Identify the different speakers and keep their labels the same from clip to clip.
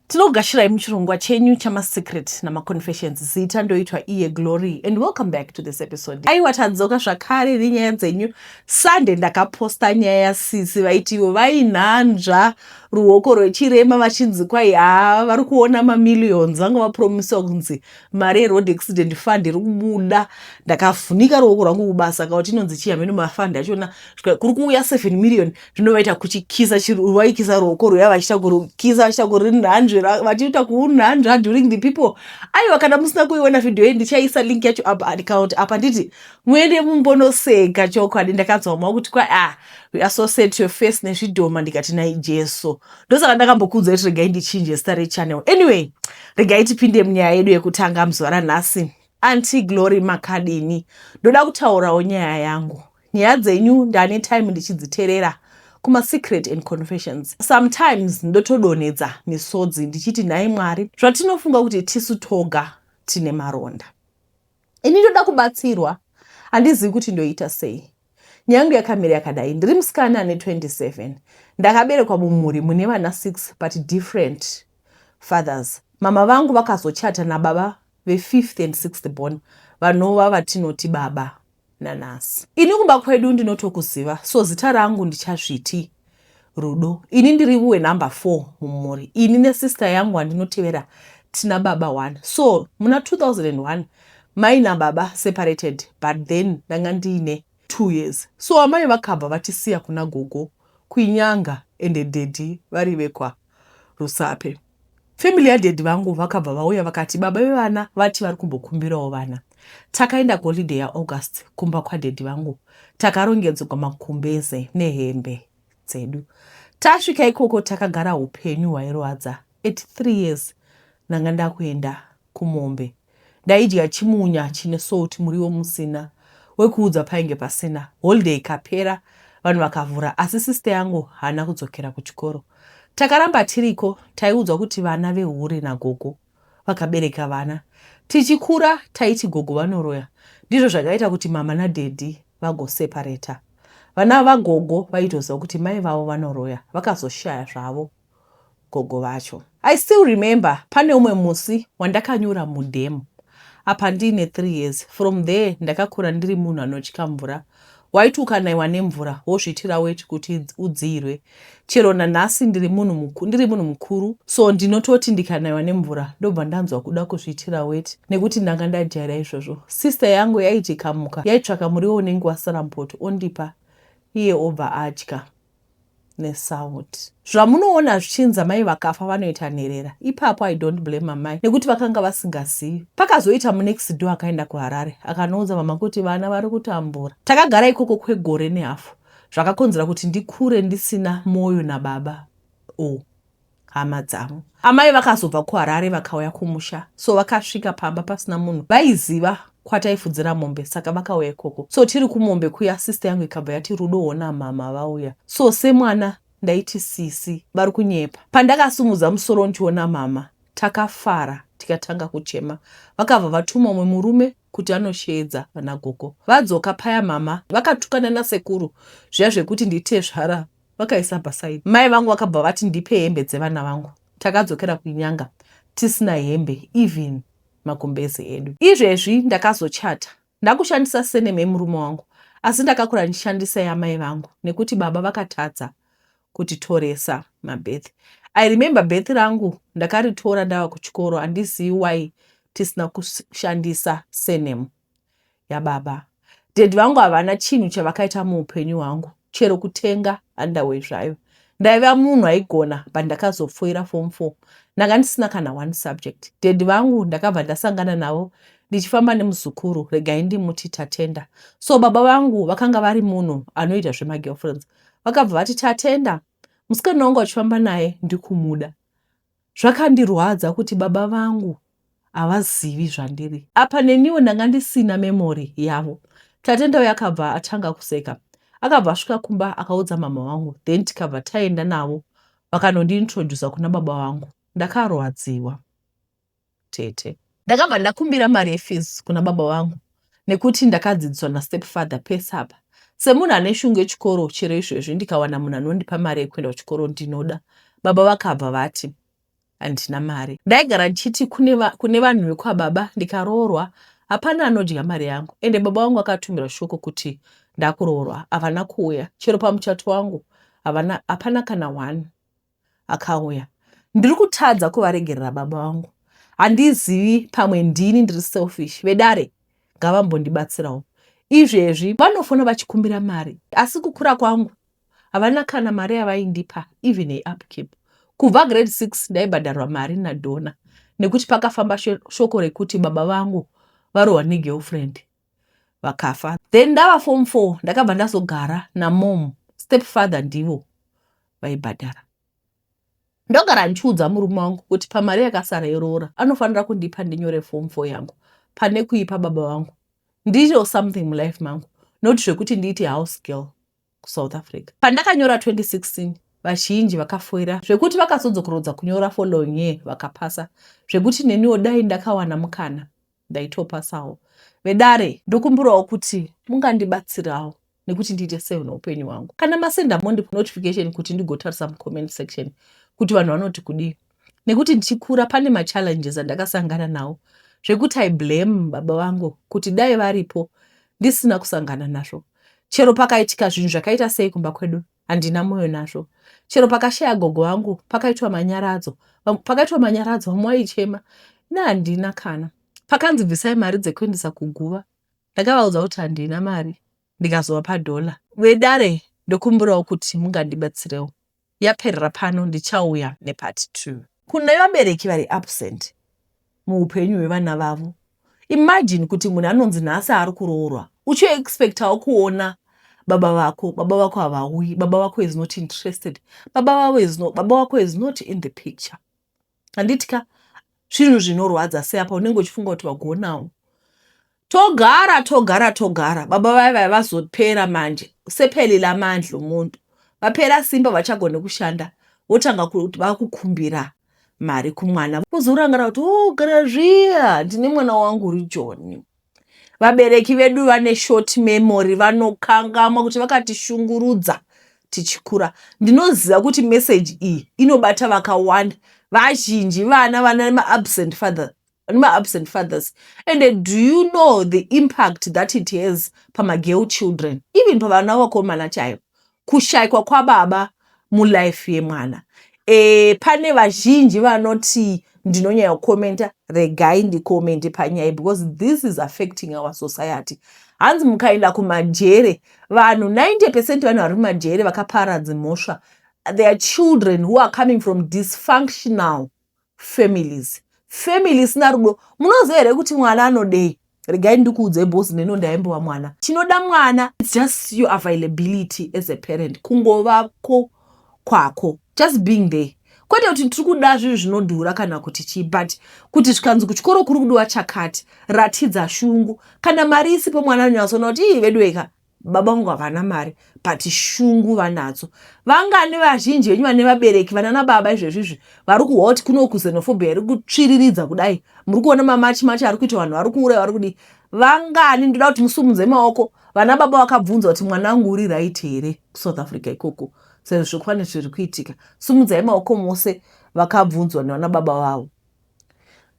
Speaker 1: Tinogashirai muchirongwa chenyu chamasecret namaconfessions zita ndoitwa iye Glory and welcome back to this episode. Aiwa tadzoka zvakare nenyaya dzenyu. Sunday ndakaposta nyaya yasisi vaiti ivo vainhanzva ruoko rwechirema vachinzi kwai haa vari kuona mamillions vanga vapromisiwa kunzi mari yeroad accident fund iri kubuda. Ndakavhunika ruoko rwangu kubasa kauti inonzi chii hameno mafund achona kuri kuuya 7 million zvino vaita kuchikisa vaikisa ruoko rwuya vachiita kurukisa vachiita kurinhanzve vachiita kuunhanzva during the people aiwa kana musina kuiona vhidhiyo iyi ndichaisa link yacho apa andikaunti apa nditi muende mumbonoseka chokwadi ndakanzwa mwa kuti kwa ah weare so sad to your face nezvidhoma ndikati nai jesu ndosaka ndakambokuudzai kuti regai ndichinje zita rechannel anyway regai tipinde munyaya yedu yekutanga muzuva ranhasi anti glory makadini ndoda kutaurawo nyaya yangu Nyaya dzenyu ndane time ndichidziterera kuma secret and confessions sometimes ndotodonhedza misodzi ndichiti nhai mwari zvatinofunga kuti tisu toga tine maronda ini ndoda kubatsirwa handizivi kuti ndoita sei nyaya yangu yakamira yakadai ndiri musikana ane 27 ndakaberekwa mumhuri mune vana 6 but different fathers mama vangu vakazochata nababa vefifth and sixth born vanova vatinoti baba nanhasi. Ini kumba kwedu ndinotokuziva so zita rangu ndichazviti Rudo. Ini ndiri wenumber 4 mumhuri. Ini nesister yangu wandinotevera tina baba 1 so muna 2001 mai nababa separated but then ndanga ndiine two years so amai vakabva vatisiya kuna gogo kuinyanga ende daddy vari vekwa Rusape. Family yadaddy vangu vakabva vauya vakati baba vevana vati vari kumbokumbirawo vana. Takaenda kuholiday yaAugust kumba kwadaddy vangu. Takarongedzwa makumbeze nehembe dzedu. Tasvika ikoko takagara upenyu hwairwadza. At three years ndanga ndakuenda kumombe ndaidya chimunya chine salt muriwo musina wekuudza painge pasina holiday ikapera vanhu vakavhura asi sister yangu haana kudzokera kuchikoro takaramba tiriko taiudzwa kuti vana vehure nagogo vakabereka vana tichikura taiti gogo vanoroya ndizvo zvakaita kuti mama nadhedhi vagosepareta vana vagogo vaitoziva kuti mai vavo vanoroya vakazoshaya zvavo gogo vacho. I still remember pane umwe musi wandakanyura mudhemu apa ndiine three years from there ndakakura ndiri munhu anotya mvura waiti ukanaiwa nemvura wozviitira weti kuti udziirwe chero nanhasi ndiri munhu mukuru so ndinototi ndikanaiwa nemvura ndobva ndanzwa kuda kuzviitira weti nekuti ndanga ndajaira izvozvo sister yangu yaitikamuka yaitsvaka muriwo unenge wasara mpoto ondipa iye obva atya nesound zvamunoona zvichinzi amai vakafa vanoita nherera ipapo i don't blame amai nekuti vakanga vasingazivi pakazoita munext do akaenda kuharare akanoudza mama kuti vana vari kutambura takagara ikoko kwegore nehafu zvakakonzera kuti ndikure ndisina mwoyo nababa o oh. hama dzavo. Amai vakazobva kuHarare vakauya kumusha so vakasvika pamba pasina munhu vaiziva kwataifudzira mombe saka vakauya ikoko so tiri kumombe kuya sister yangu ikabva yati rudo hona mhamha vauya so semwana ndaiti sisi vari kunyepa pandakasumudza musoro ndiona mhamha takafara tikatanga kuchema vakabva vatuma umwe murume kuti anosheedza vanagogo vadzoka paya mhamha vakatukana nasekuru zviya zvekuti nditezvara vakaisa pasaidi. Mai vangu vakabva vati ndipe hembe dzevana vangu. Takadzokera kunyanga tisina hembe even magumbezi edu. Izvezvi ndakazochata ndakushandisa surname yemurume wangu asi ndakakura ndichishandisa yamai vangu nekuti baba vakatadza kutitoresa mabirth. I remember birth rangu ndakaritora ndava kuchikoro handizivi why tisina kushandisa surname. yababa daddy vangu havana chinhu chavakaita muupenyu hwangu chero kutenga underway zvayo ndaiva munhu aigona but ndakazopfuira form four ndanga ndisina kana one subject daddy vangu ndakabva ndasangana navo ndichifamba nemuzukuru regai ndimuti tatenda so baba vangu vakanga vari munhu anoita zvemagirlfriends vakabva vati tatenda musikana wangu achifamba naye ndikumuda Zvakandirwadza kuti baba vangu havazivi zvandiri apa neniwo ndanga ndisina memory yavo. Tate ndauya akabva atanga kuseka akabva asvika kumba akaudza mama vangu then tikabva taenda navo vakanondiintroducer kuna baba vangu. Ndakarwadziwa. tete. Ndakabva ndakumbira mari yefees kuna baba vangu nekuti ndakadzidziswa nastepfather pese apa semunhu ane shungu yechikoro chero izvezvi ndikawana munhu anondipa mari yekuenda kuchikoro ndinoda baba vakabva vati handina mari ndaigara ndichiti kune vanhu vekwababa ndikaroorwa hapana anodya mari yangu ende baba vangu akatumira shoko kuti ndakuroorwa havana kuuya chero pamuchato wangu hapana kana one akauya ndiri kutadza kuvaregerera baba vangu handizivi pamwe ndini ndiri selfish vedare ngavambondibatsirawo izvezvi vanofona vachikumbira mari asi kukura kwangu havana kana mari yavaindipa even yeupkeep kubva grade six ndaibhadharwa mari nadona nekuti pakafamba shoko rekuti baba vangu varohwa negirlfriend vakafa then ndava form four ndakabva ndazogara namom step father ndivo vaibhadhara ndogara ndichiudza murume wangu kuti pamari yakasara yeroora anofanira kundipa ndinyore form four yangu pane kuipa baba vangu ndiitewo something mulife mangu not zvekuti ndiite house girl kusouth africa pandakanyora 2016 vazhinji vakafoira zvekuti vakazodzokorodza kunyora following year vakapasa zvekuti neniwo dai ndakawana mukana ndaitopasawo vedare ndokumbirawo kuti mungandibatsirawo nekuti ndiite sei neupenyu hwangu kana masenda mondi notification kuti ndigotarisa mucomment section kuti vanhu vanoti kudii nekuti ndichikura pane machallenges andakasangana nawo zvekuti i blame baba vangu kuti dai varipo ndisina kusangana nazvo chero pakaitika zvinhu zvakaita sei kumba kwedu handina mwoyo nazvo chero pakashaya gogo vangu pakaitwa manyaradzo pakaitwa manyaradzo vamwe vaichema ne handina kana pakanzi bvisai mari dzekuendesa kuguva ndakavaudza kuti handina mari ndikazova padhola vedare ndokumbirawo kuti mungandibatsirewo yaperera pano ndichauya nepart two. Kune vabereki vari absent muhupenyu hwevana vavo imagine kuti munhu anonzi nhasi ari kuroorwa uchi expectawo kuona baba vako baba vako havauyi baba vako is not interested baba vavo is not, baba vako is not in the picture handiti ka zvinhu zvinorwadza seapa unenge uchifunga kuti vagonawo togara togara togara baba vaya vaya vazopera manje sepeli lamandla omunhu vapera simba vachagone kushanda votanga kuti vakukumbira mari kumwana kuzorangarira kuti ogara oh, zviya ndine mwana wangu uri joni Vabereki vedu vane short memory vanokangamwa kuti vakatishungurudza tichikura. Ndinoziva kuti message iyi inobata vakawanda. Vazhinji vana vana maabsent father maabsent fathers and do you know the impact that it has pamagirl children even pavana vakomana chaivo kushaikwa kwababa mulife yemwana e, pane vazhinji vanoti ndinonyaya kukomenta regai ndikomende panyaya because this is affecting our society hanzi mukaenda kumajere vanhu 90 percent vanhu vari kumajere vakapara dzimhosva their children who are coming from dysfunctional families family isina rudo munoziva here kuti mwana anodei regai ndikuudzai bhosi neno ndaimbova mwana chinoda mwana its just your availability as a parent kungovako kwako just being there kwete kuti tiri kuda zvinhu zvinodhura kana kuti chii but kuti zvikanzi kuchikoro kuri kudiwa chakati ratidza shungu kana mari isipo mwana anonyatsoona kuti ii veduweka baba vangu havana mari but shungu vanadzo vangani vazhinji venyu vane vabereki vanana baba izvezvi izvi vari kuhot kuno kuzenofobia yari kutsviriridza kudai muri kuona mamachi machi ari kuita vanhu vari kuuraya vari kudii vangani ndoda kuti musumudze maoko vana baba vakabvunza kuti mwana wangu uri right here kusouth africa ikoko sezvo zvokwani zviri kuitika sumudzai maoko mose vakabvunzwa nevana baba vavo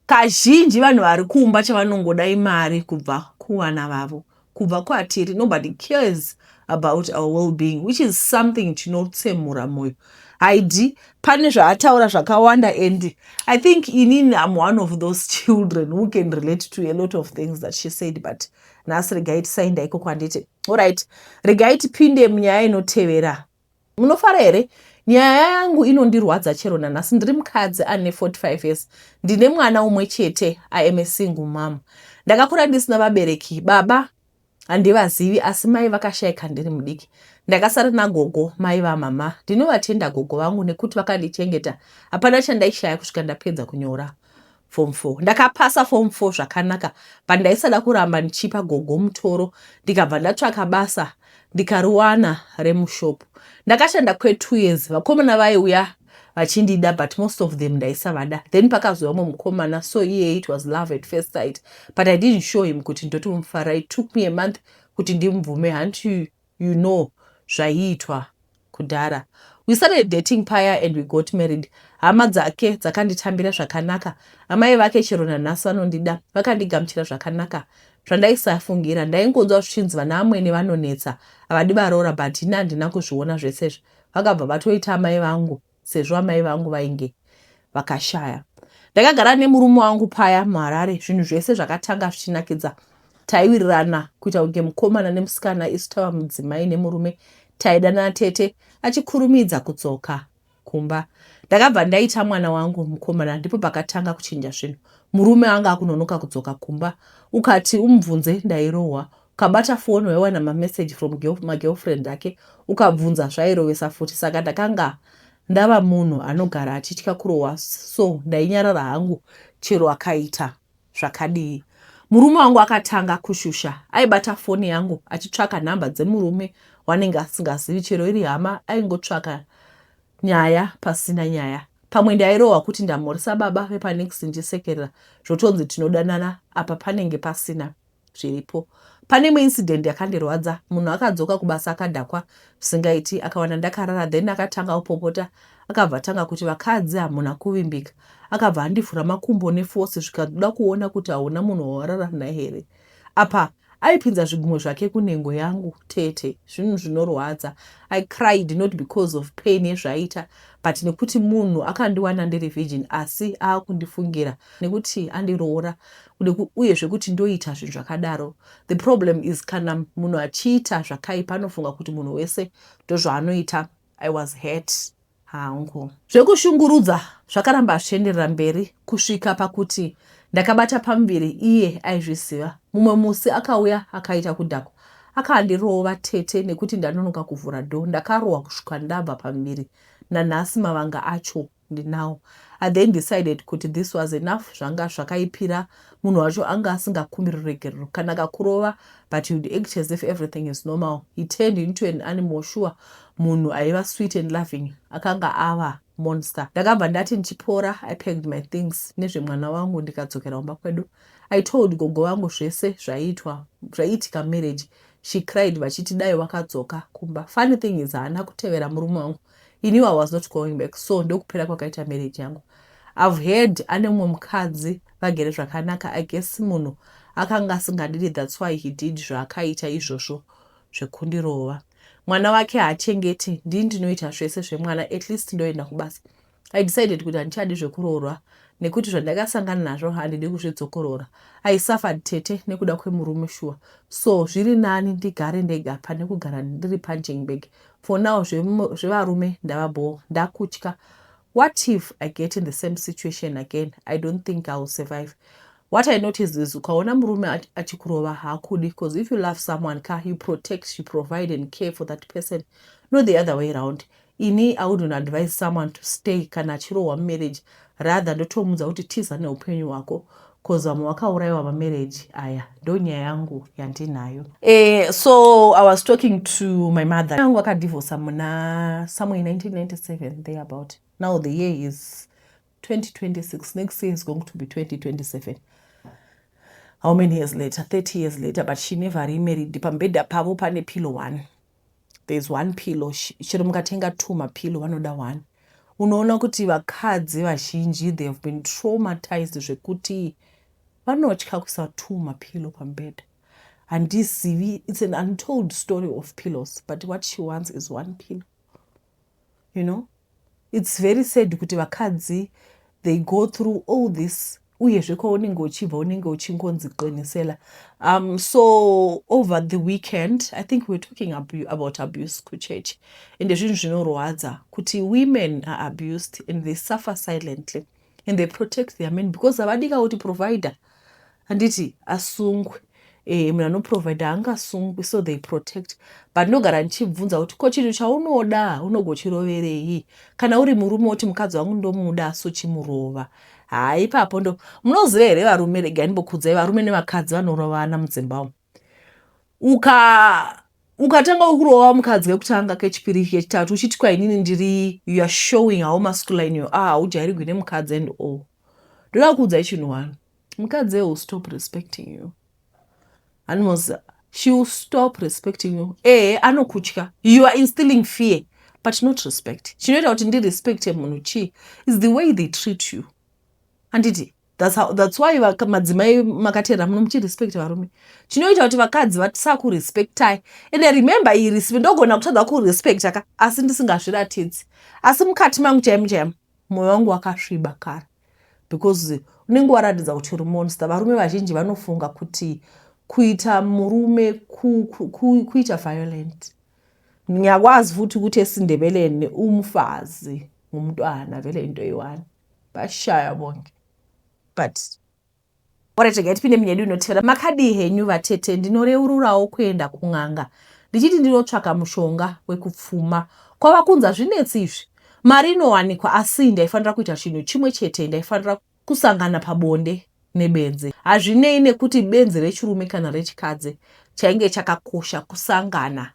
Speaker 1: Kazhinji vanhu vari kumba chavanongoda imari kubva kuvana vavo, kubva kwatiri. Nobody cares about our well-being which is something chinotsemura moyo. Haidi pane zvaataura zvakawanda and I think inini I'm one of those children who can relate to a lot of things that she said but nhasi regai tisainda ikoko handiti. Alright, regai tipinde munyaya inotevera Munofara here? Nyaya yangu inondirwadza chero nanhasi. Ndiri mukadzi ane 45 years. Ndine mwana umwe chete. I am a single mom. Ndakakura ndisina vabereki. Baba handivazivi asi mai vakashaika ndiri mudiki. Ndakasara nagogo mai vamama. Ndinovatenda gogo vangu nekuti vakandichengeta. Hapana chandaishaya kusvika ndapedza kunyora. form four ndakapasa form four zvakanaka but ndaisada kuramba ndichipa gogo mutoro ndikabva ndatsvaka basa ndikariwana remushopu ndakashanda kwetwo years vakomana vaiuya vachindida but most of them ndaisavada then pakazouya umwe mukomana so iye it was love at first sight but i didn't show him kuti ndotomufara it took me a month kuti ndimubvume hanti you know zvaiitwa kudhara. We started dating paya and we got married. Hama dzake dzakanditambira zvakanaka. Amai vake chero nanhasi vanondida, vakandigamuchira zvakanaka zvandaisafungira. Ndaingonzwa zvichinzi vana amwene vanonetsa, havadi varoora but ini handina kuzviona zvese izvi. Vakabva vatoita amai vangu. sezvo amai vangu vainge vakashaya. Ndakagara nemurume wangu paya muHarare, zvinhu zvese zvakatanga zvichinakidza. Taiwirirana kuita kunge mukomana nemusikana isu tava mudzimai nemurume. Taidanana tete achikurumidza kudzoka kumba. Ndakabva ndaita mwana wangu mukomana, ndipo pakatanga kuchinja zvinhu. Murume anga akunonoka kudzoka kumba, ukati umubvunze ndairohwa. Ukabata foni waiwana mamessage from girl, magirlfriend ake ukabvunza zvairovesa futi saka ndakanga ndava munhu anogara achitya kurohwa so ndainyarara hangu chero akaita zvakadii. Murume wangu akatanga kushusha. Aibata foni yangu achitsvaka nhamba dzemurume wanenge asingazivi chero iri hama aingotsvaka nyaya pasina nyaya. Pamwe ndairohwa kuti ndamhoresa baba vepanext ndisekerera zvotonzi tinodanana apa panenge pasina. zviripo. Pane imwe incident yakandirwadza munhu akadzoka kubasa akadhakwa zvisingaiti akawana ndakarara then akatanga kupopota akabva atanga kuti vakadzi hamuna kuvimbika akabva andivhura makumbo neforce zvikazoda kuona kuti hauna munhu wawarara naye here apa aipinza zvigumwe zvake kunhengo yangu tete zvinhu zvinorwadza i cried not because of pain yezvaaita but nekuti munhu akandiwana ndiri virgin asi aakundifungira nekuti andiroora uye zvekuti ndoita zvinhu zvakadaro the problem is kana munhu achiita zvakaipa anofunga kuti munhu wese ndozvaanoita i was hurt hangu zvekushungurudza zvakaramba zvichienderera mberi kusvika pakuti ndakabata pamuviri iye aizviziva mumwe musi akauya akaita kudhakwa akandirova tete nekuti ndanonoka kuvhura dho ndakarohwa kusvika ndabva pamuviri nanhasi mavanga acho and now I then decided kuti this was enough zvanga zvakaipira munhu wacho anga asingakumbiri ruregerero kana akakurova but he would act as if everything is normal he turned into an animal sure munhu aiva sweet and loving akanga ava monster ndakabva ndati ndichipora i packed my things nezvemwana wangu ndikadzokera kumba kwedu i told gogo vangu zvese zvaiitwa zvaiitika marriage she cried vachiti dai wakadzoka kumba funny thing is haana kutevera murume wangu he knew i was not going back so ndokupera kwakaita marriage yangu i've heard ane mumwe mukadzi vagere zvakanaka i guess munhu akanga asingandidi thats why he did zvaakaita izvozvo zvekundirova mwana wake haachengeti ndii ndinoita zvese zvemwana at least ndoenda kubasa i decided kuti handichadi zvekuroorwa nekuti zvandakasangana nazvo handidi kuzvidzokorora i suffered tete nekuda kwemurume shuwa so zviri nani ndigare ndega pane kugara ndiri panjingbeg For now zvevarume ndava bhoo ndakutya what if I get in the same situation again I don't think I will survive what I noticed is ukaona murume achikurova haakudi because if you love someone ka you protect you provide and care for that person not the other way around ini I wouldn't advise someone to stay kana achirohwa mumarriage Rather ndotomuudza kuti tiza neupenyu hwako coz vamwe vakauraiwa mamarriage aya ndonyaya yangu yandinayo. Eh, so I was talking to my mother. Yangu akadivorsa muna somewhere 1997 there about. Now the year is 2026. Next year is going to be 2027. How many years later? 30 years later, but she never remarried. Pambeda pavo pane pillow one. there is one pillow chero mukatenga two mapillow vanoda one unoona kuti vakadzi vazhinji they have been traumatized zvekuti vanotya kuisa two mapillow pambeda handizivi it's an untold story of pillows but what she wants is one pillow you know its very sad kuti vakadzi they go through all this uyezve kwaunenge uchibva unenge uchingonzi qinisela um so over the weekend i think we're talking about abuse kuchurch ende zvinhu zvinorwadza kuti women are abused and they suffer silently mm. and they protect their men because havadika kuti provider handiti asungwe eh, munhu anoprovider haangasungwi so they protect but ndinogara ndichibvunza kuti ko chinhu chaunoda unogochiroverei kana uri murume woti mukadzi wangu ndomuda so chimurova haa ipapo ndo munoziva here varume regai ndimbokudzai varume nevakadzi vanorovana mudzimba umu uka ukatanga ukurova mukadzi kekutanga kechipiri kechitatu uchiti kwainini ndiri youare showing how masculine you are haujairigwi nemukadzi and all ndoda kukuudzai chinhu one mukadzi will stop respecting you animals she will stop respecting you ee anokutya you are instilling fear but not respect chinoita kuti ndirespecte munhu chii is the way they treat you handiti That's, how, that's why madzimai makateera muno muchirespect varume chinoita kuti vakadzi vasakurespectai and remember iyi respect ndogona kutadza kurespecta ka asi ndisingazviratidzi asi mukati mangu chaimo chaimo mwoyo wangu wakasviba kare because unenge waratidza kuti uri monster varume vazhinji vanofunga kuti kuita murume ku, ku, ku, kuita violent ndingakwazi futi kuti esindebeleni umfazi ngumntwana vele into iwani Vashaya bonge but ora chega tipinde munyedu inotevera makadii henyu vatete ndinoreururawo kuenda kun'anga ndichiti ndinotsvaka mushonga wekupfuma kwava kunza zvinetsi izvi mari inowanikwa asi ndaifanira kuita chinhu chimwe chete ndaifanira kusangana pabonde nebenzi hazvinei nekuti benzi rechirume kana rechikadzi chainge chakakosha kusangana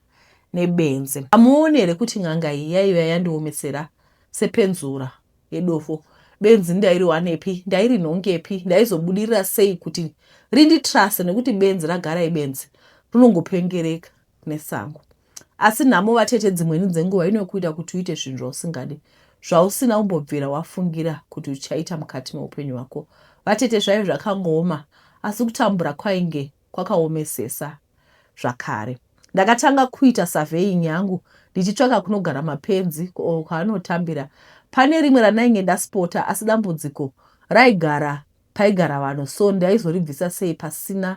Speaker 1: nebenzi amuone here kuti n'anga iyi yaiva yandiomesera sepenzura yedofo benzi ndairiwanepi ndairinhongepi ndaizobudirira sei kuti rinditrase nekuti benzi ragara ibenzi rinongopengereka nesango asi nhamo vatete dzimweni dzenguva inokuita kuti uite zvinhu zvausingadi zvausina umbobvira wafungira kuti uchaita mukati meupenyu hwako vatete zvaive zvakangooma asi kutambura kwainge kwakaomesesa zvakare. Ndakatanga kuita surveying yangu ndichitsvaka kunogara mapenzi or kwaanotambira. Pane rimwe randainge ndaspota asi dambudziko raigara paigara vanhu so ndaizoribvisa sei pasina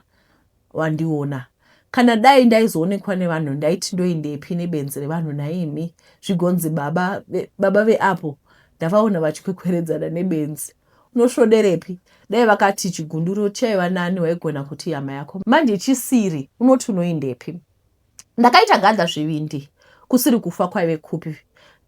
Speaker 1: wandiona. Kana dai ndaizoonekwa nevanhu ndaiti ndoendepi nebenzi revanhu nhaimi zvigonzi baba veapo ndavaona vachikwekweredzana nebenzi. unosvoderepi dai vakati chigunduru chaiva nani waigona kuti hama yako manje chisiri unoti unoindepi ndakaita gadza zvivindi kusiri kufa kwaive kupi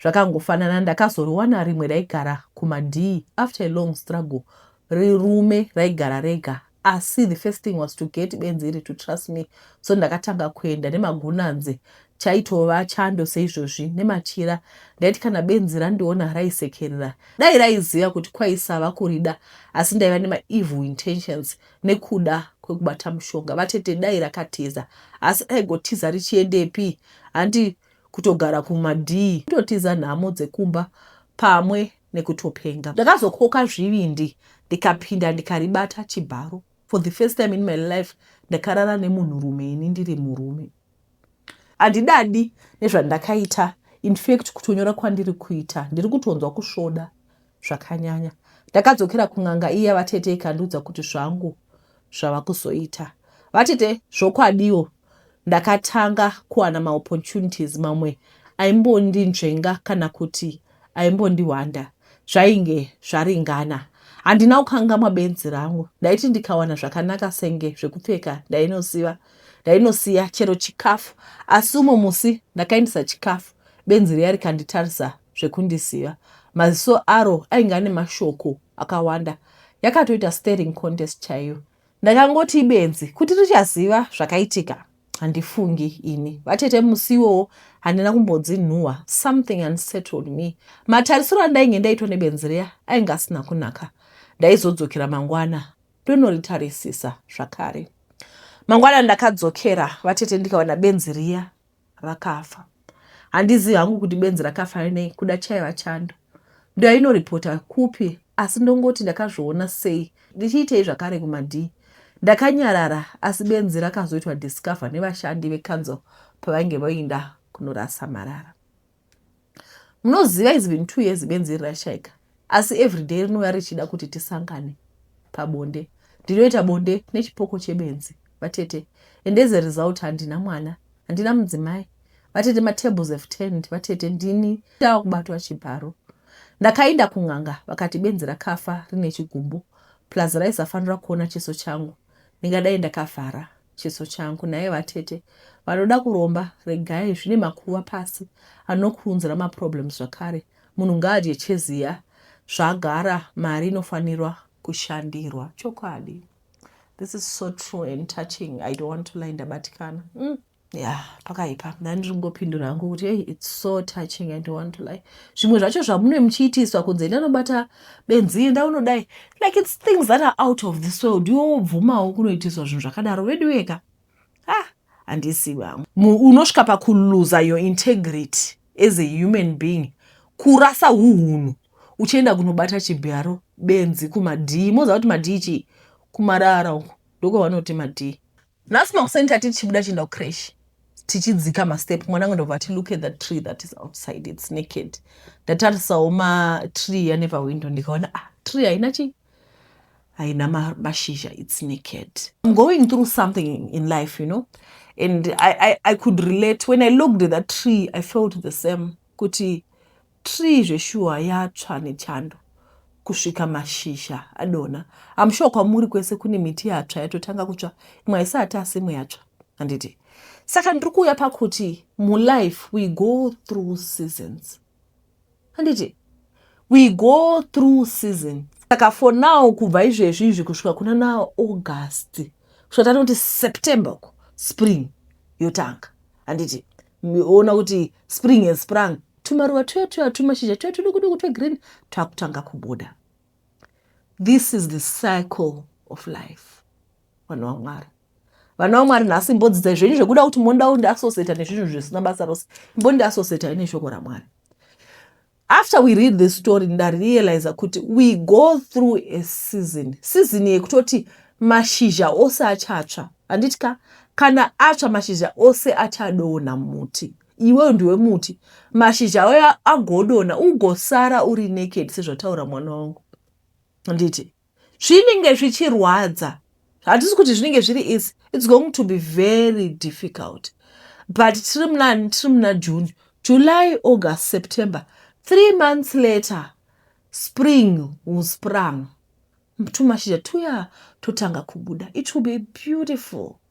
Speaker 1: zvakangofanana ndakazoriwana rimwe raigara kumadii after a long struggle rirume raigara rega asi the first thing was to get benzi iri to trust me so ndakatanga kuenda nemagunanzi chaitova chando seizvozvi nemachira ndaiti kana benzi randiona raisekerera dai raiziva kuti kwaisava kurida asi ndaiva nemaevil intentions nekuda kwekubata mushonga vatete dai rakatiza asi aigotiza richiendepi handi kutogara kumadii kutotiza nhamo dzekumba pamwe nekutopenga. Ndakazokoka zvivindi ndikapinda ndikaribata chibharo. For the first time in my life ndakarara nemunhurume ini ndiri murume. Handidadi nezvandakaita in fact kutonyora kwandiri kuita ndiri kutonzwa kusvoda zvakanyanya. Ndakadzokera kun'anga iya vatete ikandiudza kuti zvangu zvava kuzoita. Vatete zvokwadiwo Ndakatanga kuwana maopportunities mamwe aimbondinzvenga kana kuti aimbondihwanda zvainge zvaringana. Handina kukangamwa benzi rangu, ndaiti ndikawana zvakanaka senge zvekupfeka ndainosiva ndainosiya chero chikafu asi umwe musi ndakaendesa chikafu benzi riya rikanditarisa zvekundisiva maziso aro ainge ane mashoko akawanda yakatoita staring contest chaiyo Ndakangoti ibenzi kuti richaziva zvakaitika handifungi ini vatete musi iwowo handina kumbodzinhuwa something unsettled me matarisiro andainge ndaitwa nebenzi riya ainge asina kunaka ndaizodzokera mangwana ndonoritarisisa zvakare mangwana ndakadzokera vatete ndikawana benzi riya rakafa handizivi hangu kuti benzi rakafa nei kuda chaiva chando ndoyainoripota kupi asi ndongoti ndakazviona sei ndichiitei zvakare kumadii ndakanyarara asi benzi rakazoitwa discover nevashandi vecouncil pavainge voinda kunorasa marara munoziva is been two years benzi iri rashaika asi every day rinouya richida kuti tisangane pabonde ndinoita bonde nechipoko chebenzi vatete and as a result handina mwana handina mudzimai vatete matables have turned vatete ndini ndava kubatwa chibharo ndakainda kun'anga vakati benzi rakafa rine chigumbu plus raisafanira kuona chiso changu ndingadai ndakavhara chiso changu naye vatete vanoda kuromba regai zvine makuva pasi anokuunzira maproblems zvakare munhu ngaadye cheziya zvagara mari inofanirwa kushandirwa chokwadi this is so true and touching i don't want to lie ndabatikana mm. ya pakaipa ndani ndiri kungopindura hangu kuti hey, its so touching i don't want to lie zvimwe zvacho zvamunee muchiitiswa kunze enda unobata benzi enda unodai like its things that are out of this world iwo wobvumawo kunoitiswa zvinhu zvakadaro vedu weka ha ah, handisi vangu unosvika pakuluza your integrity as a human being kurasa uhunhu uchienda kunobata chibharo benzi kumadhii moziva kuti madhii chii kumarara uku ndokwavanoti madhii nhasi makuseni tati tichibuda tichienda kucresh tichidzika mastep mwana angu ndobva ti look at the tree that is outside its naked ndatarisawo matree ane pawindow ndikaona ah tree haina chii haina mashizha its naked im going through something in life you know and I, I, i could relate when i looked at that tree i felt the same kuti Tree zveshuwa yatsva nechando kusvika mashizha adonha. I'm sure kwamuri kwese kune miti yatsva yatotanga kutsva imwe haisati asi imwe yatsva handiti? Saka ndiri kuuya pakuti mulife we go through seasons handiti? We go through seasons saka for now kubva izvezvi izvi kusvika kuna naaugust kusvika tanoti september uko spring yotanga handiti ona kuti spring has sprung tumaruva tuya tuya tumashizha tuya tudukuduku twegreen twakutanga kubuda this is the cycle of life vanhu vamwari vana vamwari nhasi imbodzidzai zvenyu zvekuda kuti monda undiasoseta nezvinhu zvisina basa rose imbondiasoseta ine shoko ramwari After we read this story ndarealiza kuti we go through a season season yekutoti mashizha ose achatsva handiti ka kana atsva mashizha ose achadona muti iweyo ndiwe muti mashizha ayo agodona ugosara uri naked sezvataura mwana wangu handiti zvinenge zvichirwadza hatisi kuti zvinenge zviri easy its going to be very difficult but tiri munani tiri muna june july august september three months later spring will sprung tumashizha tuya totanga kubuda it will be beautiful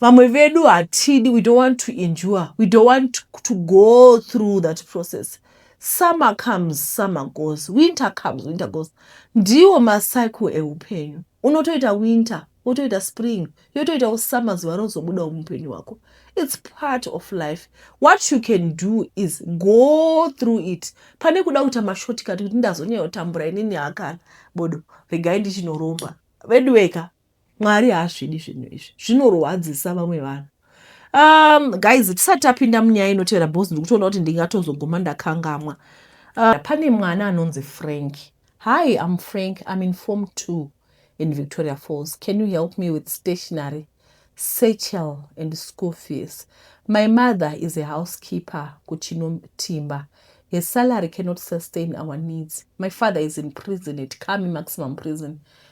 Speaker 1: vamwe vedu hatidi we don't want to endure we don't want to go through that process summer comes summer goes winter comes winter goes ndiwo macycle eupenyu unotoita winter wotoita spring yotoitawo summer zuva rozobudawo muupenyu hwako its part of life what you can do is go through it pane kuda kuita mashortcut kuti ndazonyayotambura inini hakana bodo regai ndichinoromba veduweka mwari haasvidi zvinhu izvi zvinorwadzisa vamwe vanhu um guys tisati tapinda munyaya inotevera bcause ndikutoona kuti ndingatozoguma ndakangamwa uh, pane mwana anonzi frank hi am frank im in form two in victoria falls can you help me with stationary sechel and school fees my mother is a housekeeper kuchinotimba her salary cannot sustain our needs my father is in prison at kami maximum prison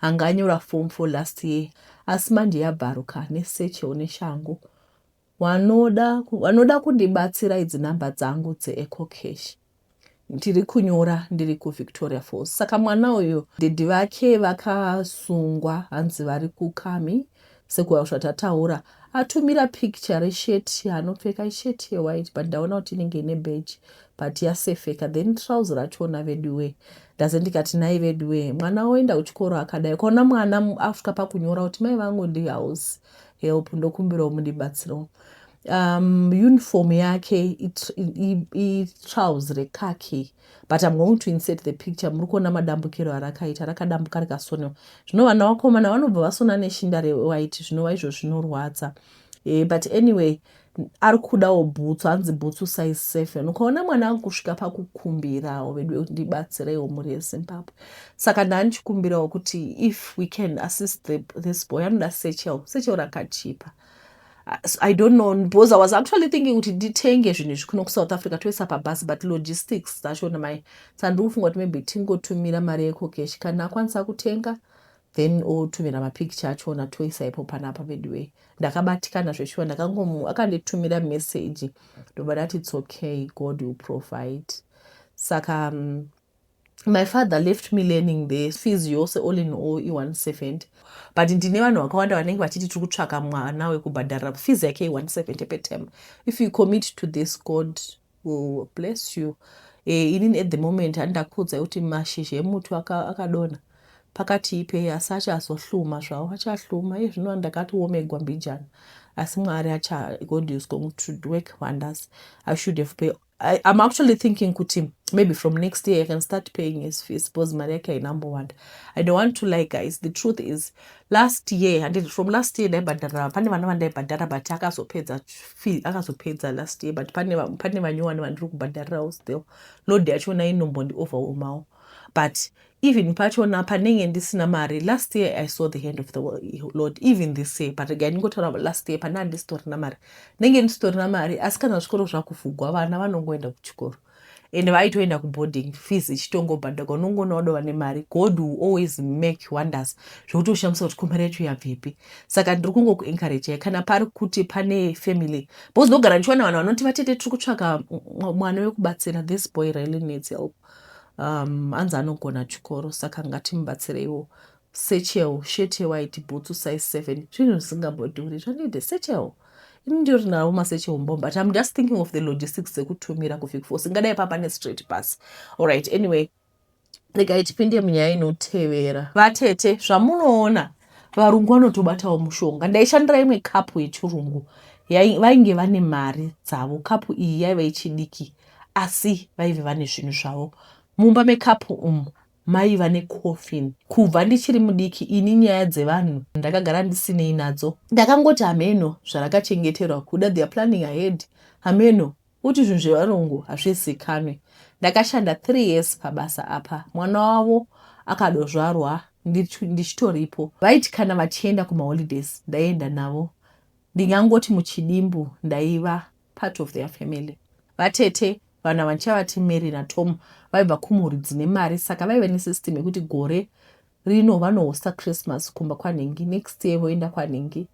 Speaker 1: Anga anyora form four last year asi manje yabvaruka ane satchel neshangu. Wanoda, wanoda kundibatsira idzi number dzangu dzeEcocash ndiri kunyora ndiri kuvictoria falls saka mwana uyu daddy vake vakasungwa hanzi vari kukami Sekuwasha tataura atumira picture reshirt yaanopfeka ishirt yewhite but ndaona kuti inenge ine badge but yasefeka then trouse rachona veduwee ndaze ndikati nai veduwee mwana oenda kuchikoro akadai ukaona mwana after pakunyora kuti mai vangu ndihouse help ndokumbirawo mundibatsirawo um, uniform yake itrouse rekaki but I'm going to insert the picture muri kuona madambukiro arakaita rakadambuka rikasonewa zvino vana vakomana vanobva vasona neshinda rewhite zvinova izvo zvinorwadza e, but anyway ari kudawo bhutsu hanzi bhutsu size seven ukaona mwana angu kusvika pakukumbirawo vedu ndibatsireiwo mhuri yezimbabwe saka ndaanichikumbirawo kuti if we can assist the, this boy anoda sechel sechel rakachipa i don't know because i was actually thinking kuti nditenge zvinhu izvi kuno kusouth africa toisa pabhasi but logistics dzacho namai sa ndiri kufunga kuti maybe tingotumira mari yekokeshi kana akwanisa kutenga then otumira mapicture achona toisa ipo panapa veduway ndakabatikana zveshuwa ndakangomu akanditumira message ndobva ndati it's okay god will provide saka um, My father left me learning the fees yose all in all i170 but ndine vanhu vakawanda vanenge vachiti tiri kutsvaka mwana wekubhadharira fees yake i170 petem if you commit to this god will bless you eh, inini at the moment andakuudzai kuti mashizha emuti akadona pakati ipe asi achazohluma zvavo achahluma iye zvino andakatiomegwa mbijana asi mwari acha god is going to work wonders i should have pay I, I'm actually thinking kuti maybe from next year I can start paying his fees because mari yake hainambowanda. I don't want to lie guys. The truth is last year and from last year ndaibhadhara pane vana vandaibhadhara but akazopedza fee akazopedza last year but pane pane vanyowani vandiri kubhadharirawo still load yacho na inombondi overwhelmawo but even pachona panenge ndisina mari last year i saw the hand of the lord even this year but regai ndingotaura last year pandaa ndisitorina mari ndenge ndisitorina mari asi kana zvikoro zvakuvhugwa vana vanongoenda kuchikoro and vaitoenda kuboarding fees ichitongobhadhagwa unongoona vadova nemari god will always make wonders zvekuti ushamisa kuti komari yacho yabvepi saka ndiri kungokuencouragei kana pari kuti pane family because ndogara ndichiwana vanhu vanoti vatete tiri kutsvaka mwana wekubatsira this boy really needs help um, hanzi anogona chikoro saka ngatimubatsireiwo sechel shet yewhite bhutsu size seven zvinhu zvisingambodhuri zvanide sechel ini ndiri navo masechel mbom but im just thinking of the logistics dzekutumira kufikfos ingadai papa nestraight bus allright anyway regai tipinde munyaya inotevera vatete zvamunoona varungu vanotobatawo mushonga ndaishandira imwe kapu yechirungu vainge vane mari dzavo kapu iyi yaiva ichidiki asi vaive vane zvinhu zvavo mumba mekapu umu maiva necoffin kubva ndichiri mudiki ini nyaya dzevanhu ndakagara ndisinei nadzo ndakangoti hameno zvarakachengeterwa kuda their planning ahead hameno kuti zvinhu zvevarungu hazvizikanwe ndakashanda three years pabasa apa mwana wavo akadozvarwa ndichitoripo vaiti kana vachienda kumaholidays ndaienda navo ndingangoti muchidimbu ndaiva part of their family vatete vanhu ava ndichavati mary natomo vaibva kumhuri dzine mari saka vaive nesystem yekuti gore rino vanohosta christmas kumba kwanhingi next year voenda kwanhingi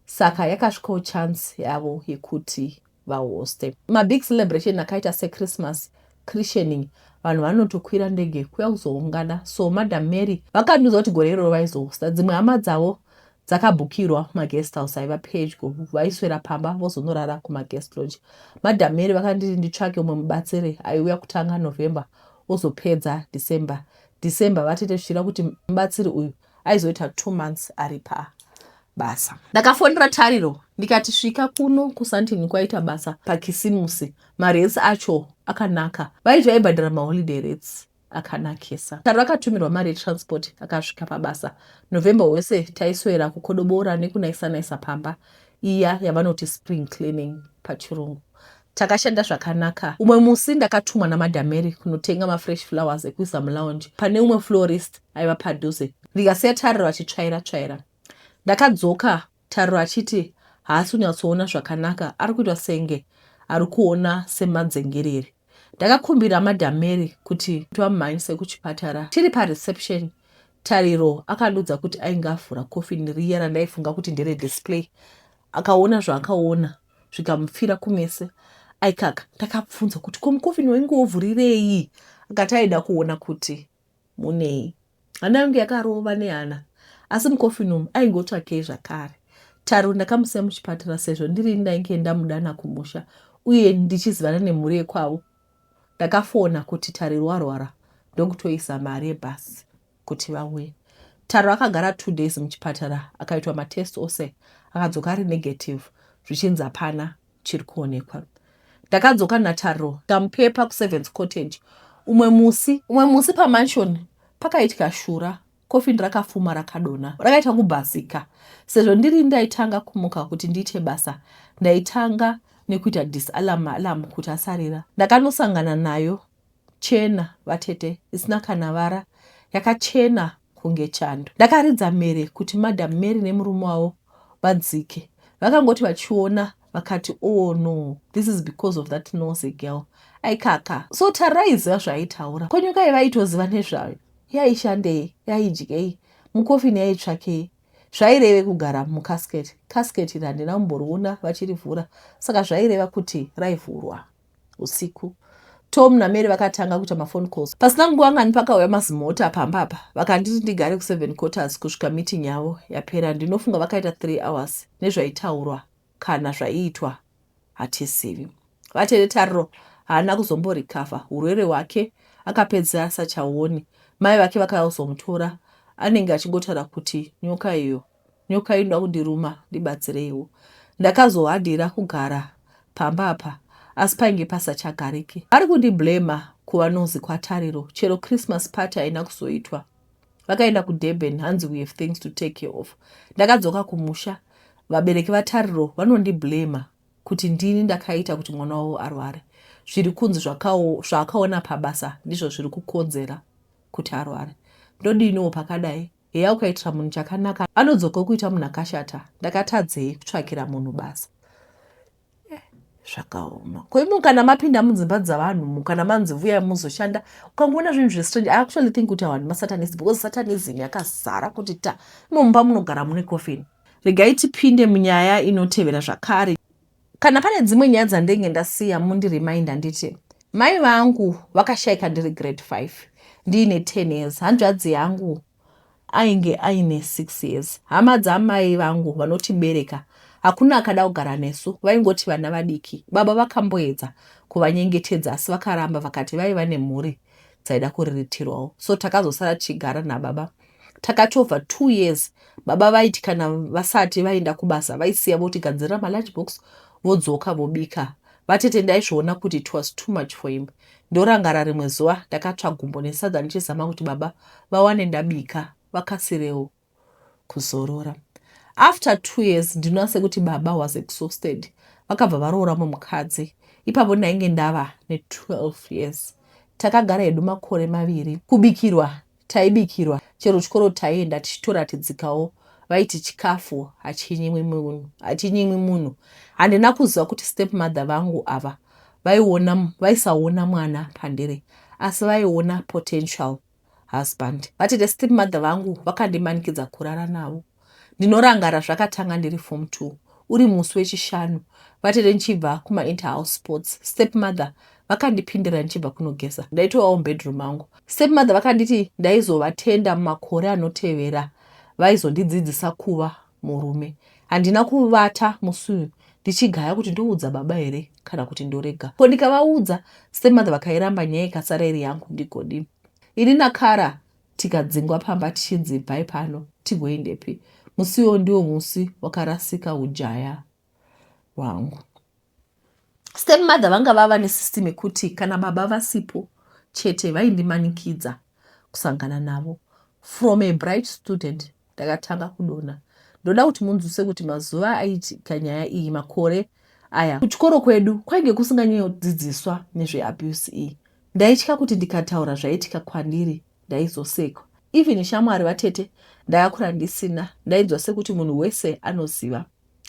Speaker 1: saka yakasvikawo chance yavo yekuti vahoste mabig celebration akaita sechristmas christianing vanhu vanotokwira ndege kuya kuzoungana so madam mary vakandiudza kuti gore iroro vaizohosta dzimwe hama dzavo dzakabhukirwa maguest house aiva pedyo vaiswera pamba vozonorara kumaguest lodge madam mary vakanditi nditsvake umwe mubatsiri aiuya kutanga november ozopedza december december vatete zvichida kuti mubatsiri uyu aizoita two months ari pa basa ndakafonera tariro ndikati svika kuno kusantini kwaita basa pakisimusi marets acho akanaka vaiti vaibhadhara maholiday rets akanakisa. Taro akatumirwa mari yetransport akasvika pabasa. November wese taiswera kukodobora nekunaisa-naisa pamba iya yavanoti spring cleaning pachirungu. Takashanda zvakanaka. Umwe musi ndakatumwa namadameri kunotenga mafresh flowers ekuisa mulounge pane umwe florist aiva padhuze ndikasiya Taro vachitsvaira-tsvaira. Ndakadzoka Tariro achiti haasi kunyatsoona zvakanaka ari kuitwa senge ari kuona semadzengerere. Ndakakumbira madam Mary kuti vamhanyise kuchipatara. Tiri pareception Tariro akandiudza kuti ainge avhura coffin riya randaifunga kuti ndere display akaona zvaakaona zvikamupfira kumeso aikaka. Ndakabvunza kuti ko mucoffin wainge wovhurirei akati aida kuona kuti Munei? Hana yangu yakarova nehana asi mucoffin umu aingotsvakei zvakare. Taro ndakamusiya muchipatara sezvo ndirini ndainge ndamudana kumusha uye ndichizivana nemhuri yekwavo. Ndakafona kuti Tariro warwara ndokutoisa mari yebhasi kuti vauye. Taro akagara two days muchipatara akaitwa matest ose akadzoka ari negative zvichinzi hapana chiri kuonekwa ndakadzoka nataro tamupepa kuseventh cottage umwe musi umwe musi pamansion pakaitya shura kofini rakafuma rakadona rakaita kubhasika sezvo ndiri ndaitanga kumuka kuti ndiite basa ndaitanga nekuita disalam alam kuti asarira ndakanosangana nayo chena vatete isina kana vara yakachena kunge chando. Ndakaridza mhere kuti madam Mary nemurume wavo vadzike vakangoti vachiona vakati oh no this is because of that nose girl aikaka so Tara aiziva zvaaitaura ko nyoka yavaitoziva nezvayo yaishandei yaidyei mukofini yaitsvakei zvaireve kugara mucasket casket iri handina kumboriona vachirivhura saka zvaireva kuti raivhurwa usiku Tom naMary vakatanga kuita mafone calls. Pasina nguva ngani pakauya mazimota pamba apa vakanditi ndigare kuseven quarters kusvika meeting yavo yapera. Ndinofunga vakaita three hours nezvaitaurwa kana zvaiitwa hatizivi. Vatete Tariro haana kuzomborikavha hurwere hwake akapedzera asachaoni. Mai vake vakauzomutora anenge achingotaura kuti nyoka iyo Nyoka inoda kundiruma ndibatsireiwo. Ndakazohadira kugara pamba apa asi painge pasachagariki. Vari kundiblamer kuva nozi kwaTariro chero Christmas party haina kuzoitwa. Vakaenda kuDurban hanzi we have things to take care of. Ndakadzoka kumusha vabereki vaTariro vanondiblamer kuti ndini ndakaita kuti mwana wavo arware. Zviri kunzi zvaakaona pabasa ndizvo zviri kukonzera kuti arware. Ndodiniwo pakadai? Heya ukaitira munhu chakanaka anodzoka okuita munhu akashata ndakatadzei kutsvakira munhu basa zvakaoma ko imi kana mapinda mudzimba dzavanhu mu kana manzi vuya muzoshanda ukangoona zvinhu zvestrange i actually think kuti avanhu masatanism because satanism yakazara kuti ta imomumba munogara mune coffin regai tipinde munyaya inotevera zvakare Kana pane dzimwe nyaya dzandenge ndasiya mundi remind handiti mai vangu vakashaika ndiri grade 5 ndiine 10 years hanzvadzi yangu ainge aine 6 years hama dzamai vangu vanotibereka hakuna akada kugara nesu vaingoti vana vadiki baba vakamboedza kuvanyengetedza asi vakaramba vakati vaiva nemhuri dzaida kuriritirwawo so takazosara tichigara nababa takatova two years baba vaiti kana vasati vaenda kubasa vaisiya votigadzirira malunch box vodzoka vobika vatete ndaizviona kuti it was too much for him ndorangara rimwe zuva ndakatsva gumbo nesadza ndichizama kuti baba vawane ndabika vakasirewo kuzorora after two years ndinoona sekuti baba was exhausted vakabva varoora mumukadzi ipapo ndainge ndava ne12 years takagara hedu makore maviri kubikirwa Taibikirwa, chero chikoro taienda tichitoratidzikawo. Vaiti chikafu hachinyimwi munhu, hachinyimwi munhu. Handina kuziva kuti stepmother vangu ava vaiona, vaisaona mwana pandiri asi vaiona potential husband. Vatete stepmother vangu vakandimanikidza kurara navo. Ndinorangara zvakatanga ndiri form two uri musi wechishanu vatete ndichibva kuma interhouse sports stepmother vakandipindira ndichibva kunogeza ndaitovawo mubedroom mangu. Stepmother vakanditi ndaizovatenda mumakore anotevera vaizondidzidzisa kuva murume. Handina kuvata musi uyu ndichigaya kuti ndoudza baba here kana kuti ndorega. Ko ndikavaudza stepmother vakairamba nyaya ikasara iri yangu ndigodii. Ini naKara Tikadzingwa pamba tichinzi ibvai pano tigoendepi? Musi iwoyo ndiwo musi wakarasika ujaya hwangu. Stepmother vanga vava nesystem yekuti kana baba vasipo chete vaindimanikidza kusangana navo from a bright student Ndakatanga kudonha. Ndoda kuti munzwise kuti mazuva aitika nyaya iyi makore aya kuchikoro kwedu kwainge kusinganyodzidziswa nezveabuse iyi. Ndaitya kuti ndikataura zvaitika kwandiri ndaizosekwa. Even shamwari vatete ndakakura ndisina ndainzwa sekuti munhu wese anoziva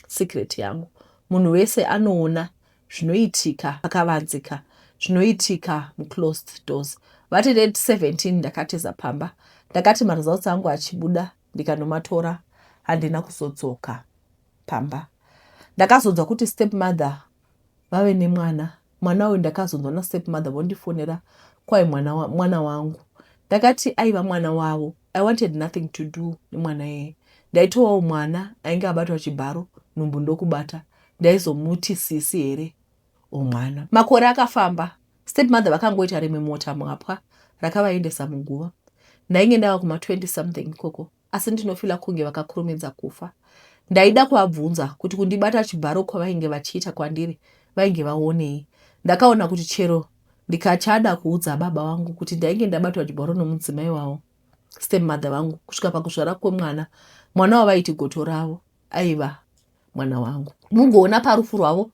Speaker 1: secret yangu. Munhu wese anoona zvinoitika pakavanzika zvinoitika muclosed doors vati red 17 ndakatiza pamba ndakati maresults angu achibuda ndikanomatora handina kuzodzoka pamba ndakazonzwa kuti step mother vave nemwana mwana uyu ndakazonzwa nastep mother vondifonera kwai mwana, wa, mwana wangu ndakati aiva mwana wavo i wanted nothing to do nemwana yeye ndaitowawo mwana ainge abatwa chibharo nhumbu ndokubata ndaizomuti sisi here or mwana. Makore akafamba stepmother vakangoita rimwe mota mwapwa rakavaendesa muguva. Ndainge ndava kuma 20 something ikoko asi ndinofila kunge vakakurumidza kufa. Ndaida kuvabvunza kuti kundibata chibharo kwavainge vachiita kwandiri vainge vaonei. Ndakaona kuti chero ndikachada kuudza baba vangu kuti ndainge ndabatwa chibharo nomudzimai wavo stepmother vangu kusvika pakuzvara kwemwana mwana wavaiti goto ravo aiva mwana wangu mugoona parufu rwavo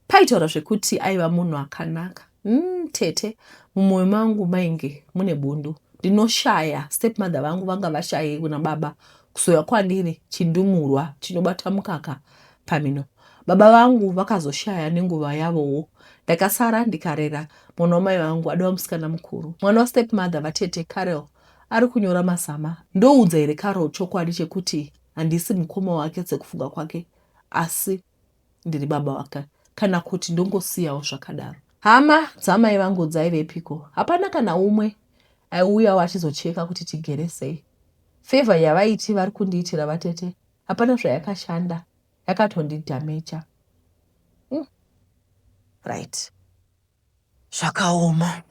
Speaker 1: paitaura zvekuti aiva munhu akanaka mm, tete mumwoyo mangu mainge mune bundu ndinoshaya stepmother vangu vanga vashaye kuna baba kuzouya kwandiri chindumurwa chinobata mukaka pamino baba vangu vakazoshaya nenguva yavowo ndakasara ndikarera mwana wamai vangu adova musikana mukuru mwana wastepmother vatete carel ari kunyora mazama ndoudza here carol chokwadi chekuti Handisi mukoma wake sekufunga kwake asi ndiri baba wake kana kuti ndongosiyawo zvakadaro. Hama dzamai vangu dzaivepiko? Hapana kana umwe aiuyawo achizocheka kuti tigere sei. Favor yavaiti vari kundiitira vatete hapana zvayakashanda, yakatondidhameja. Mm. Right. zvakaoma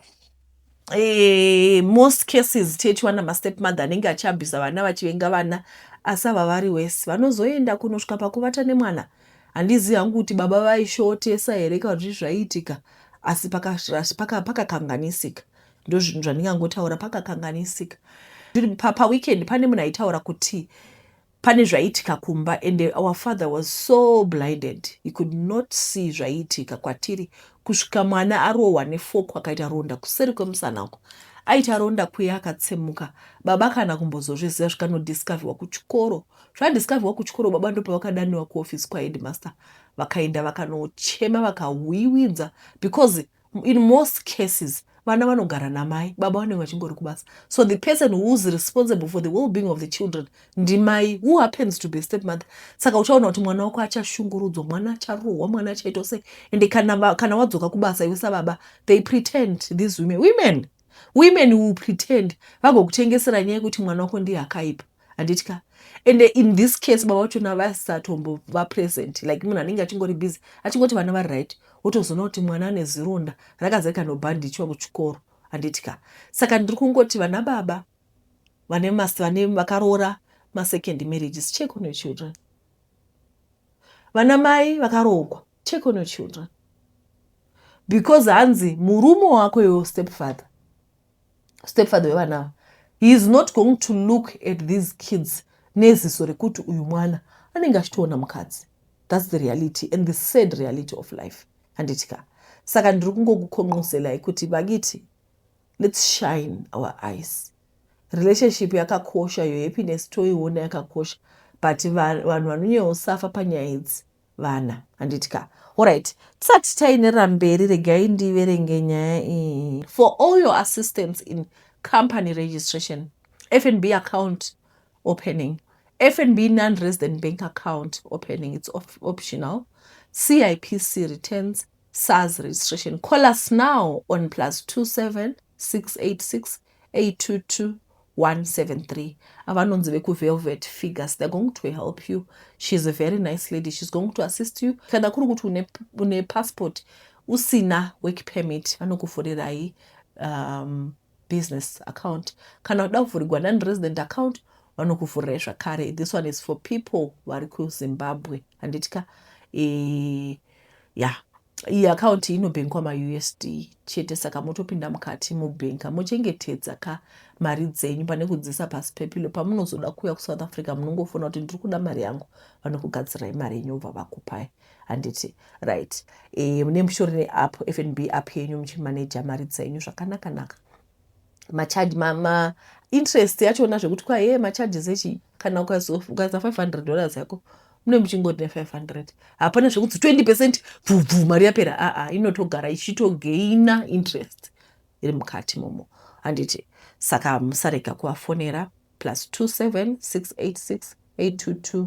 Speaker 1: eh, most cases tete wana mastep mother anenge achiabhisa vana vachivenga vana asi ava vari wese vanozoenda kunosvika pakuvata nemwana handizivi hangu kuti baba vaishotesa here kana kuti zvaiitika asi pakakanganisika paka, paka ndo zvinhu zvandingangotaura pakakanganisika paweekend pane munhu aitaura kuti pane zvaiitika kumba and our father was so blinded he could not see zvaiitika kwatiri kusvika mwana arohwa nefoko akaita ronda kuseri kwemusana uko aita ronda kuye akatsemuka baba kana kumbozozviziva zvikanodiscoverwa kuchikoro zvadiscoverwa kuchikoro baba ndopavakadaniwa kuoffice kwaheadmaster vakaenda vakanochema vakawiwinza because in most cases vana vanogara namai baba vanenge vachingori kubasa so the person whois responsible for the well being of the children ndimai who happens to be step mother saka uchaona kuti mwana wako achashungurudzwa mwana acharohwa mwana achaitwa sei ende kana, kana wadzoka kubasa iwe sababa they pretend these women women women will pretend vagokutengesera nyaya yekuti mwana wako ndiye akaipa handiti ka and in this case baba vachona vasatombo vapresent like munhu anenge achingori busy achingoti vana vari right wotozoona kuti mwana ane zironda rakazaika nobhandichwa kuchikoro handiti ka saka ndiri kungoti vana baba vane vakaroora masecond marriages check on your children vana mai vakaroogwa take on your children because hanzi murume wako iwe stepfather stepfather wevana ava he is not going to look at these kids neziso rekuti uyu mwana anenge achitoona mukadzi thats the reality and the sad reality of life handiti ka saka ndiri kungokukhonqoselai kuti vakiti let's shine our eyes Relationship yakakosha your happiness toiona yakakosha but vanhu vanonyeosafa panyaya idzi vana handiti ka orit tisati taenera mberi regai ndiverenge nyaya iyi for all your assistance in company registration fnb account opening fnb non resident bank account opening its op optional cipc returns sars registration call us now on plus 27 6868222173 avanonzi vekuvelvet figures they're going to help you she's a very nice lady she's going to assist you kana kuri kuti une, une passport usina work permit vanokuvhurirai um, business account kana uda kuvhurigwa non resident account vanokuvhurirai zvakare this one is for people vari kuzimbabwe handiti ka e, eh, ya yeah. Iyi account inobhenkwa maUSD chete saka motopinda mukati mobhenka mochengetedza ka mari dzenyu pane kudziisa pasi pepilo pamunozoda kuuya kuSouth Africa munongofona kuti ndiri kuda mari yangu vanokugadzirai mari yenyu vobva vakupai handiti right e, eh, nemushore neapp FNB app yenyu muchimaneja mari dzenyu zvakanakanaka macharge ma, ma interest yachona zvekuti kwa hee macharges echi kana ukaza 500 dollars yako mune muchingoti ne 500 hapana zvekuti 20 percent bvubvu mari yapera aa ah, ah, inotogara ichitogaina interest iri mukati momo handiti saka musarega kuvafonera plus 27 686 822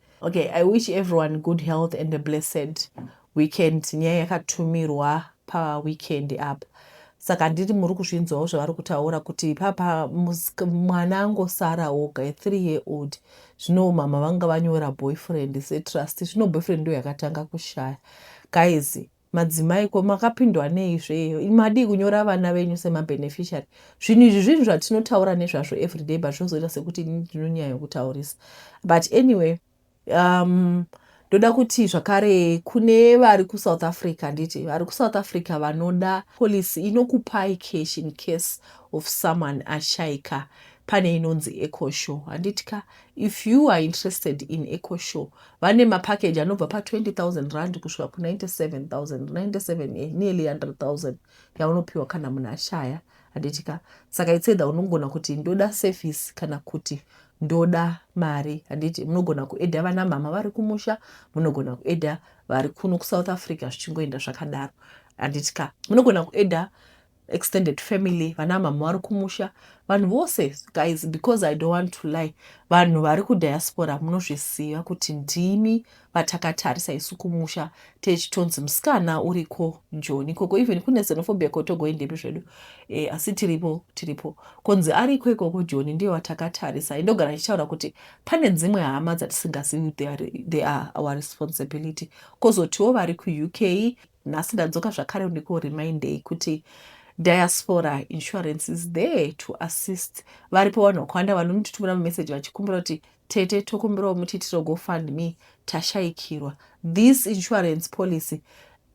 Speaker 1: Okay, I wish everyone good health and a blessed weekend. Nyaya yakatumirwa pa weekend apa. Saka ndiri muri kuzvinzwawo zvavari kutaura kuti papa mwana angosara oga a three year old zvino mama vanga vanyora boyfriend setrust zvino boyfriend ndo yakatanga kushaya guys Madzimai ko makapindwa nei zveyo imi madii kunyora vana venyu sema beneficiary zvinhu izvi zvinhu zvatinotaura nezvazvo everyday but zvozoita sekuti ini ndinonyaya yokutaurisa but anyway um, ndoda kuti zvakare kune vari kusouth africa nditi vari kusouth africa vanoda policy inokupai cash in case of someone ashaika pane inonzi ecoshow handiti ka If you are interested in EcoSure vane mapackage anobva pa 20,000 rand kusvika ku 97,000, 97 eh, nearly 100,000 yaunopiwa kana munhu ashaya handitika. Saka it's either unogona kuti ndoda service kana kuti ndoda mari handiti. Munogona kueda vana mhama vari kumusha, munogona kueda vari kuno kuSouth Africa zvichingoenda zvakadaro handitika. Munogona kueda extended family vana mhamha vari kumusha vanhu vose guys because i don't want to lie vanhu vari kudiaspora munozviziva kuti ndimi vatakatarisa isu kumusha techitonzi musikana uriko joni ikoko even kune xenophobia kotogoi ndimi zvedu e, asi tiripo tiripo konzi ariko ikoko joni ndiyo vatakatarisa indogara ichitaura kuti pane dzimwe hama dzatisingazivi they are our responsibility kozotiwo vari kuuk Nhasi ndadzoka zvakare ndiku remindei kuti diaspora insurance is there to assist. Varipo vanhu vakawanda vanonditumira mumessage vachikumbira kuti tete tokumbirawo mutiitiro go fund me tashaikirwa. This insurance policy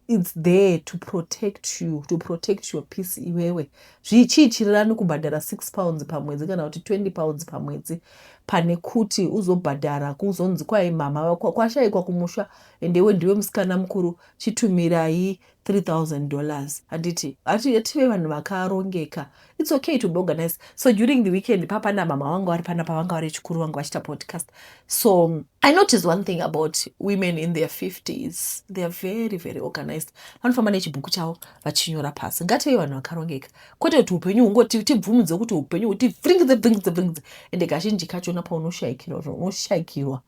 Speaker 1: its there to protect you to protect your peace iwewe zvichiichirirani kubhadhara 6 pounds pamwedzi kana kuti 20 pounds pamwedzi pane kuti uzobhadhara kuzonzi kwai mhamha kwashaikwa kumusha ende iwe ndiwe musikana mukuru chitumirai 3000 dollars handiti hati tive vanhu vakarongeka its okay to be organized so during the weekend papana mama vanga vari pana pavanga vari chikuru vanga vachiita podcast so i notice one thing about women in their 50s they are very very organized vanofamba nechibhuku chavo vachinyora pasi ngative vanhu vakarongeka kwete kuti upenyu hungoti tibvumidze kuti upenyu huti bringidze bringidze bringidze ende kazhinji kachona paunoshaikirwa unoshaikirwa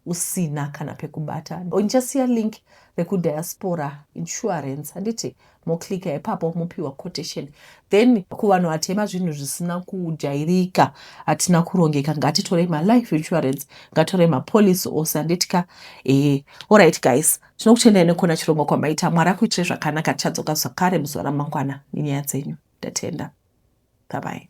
Speaker 1: usina kana pekubata ndichasiya link rekudiaspora insurance handiti moclika ipapo mopiwa quotation then kuvanhu vatema zvinhu zvisina kujairika hatina kurongeka ngatitorei malife insurance ngatorei mapolicy ose handiti ka ee allright guys tinokutendai nekuona chirongwa kwamaita mwari akuitire zvakanaka tichadzoka zvakare muzuva ramangwana nenyaya dzenyu ndatenda babai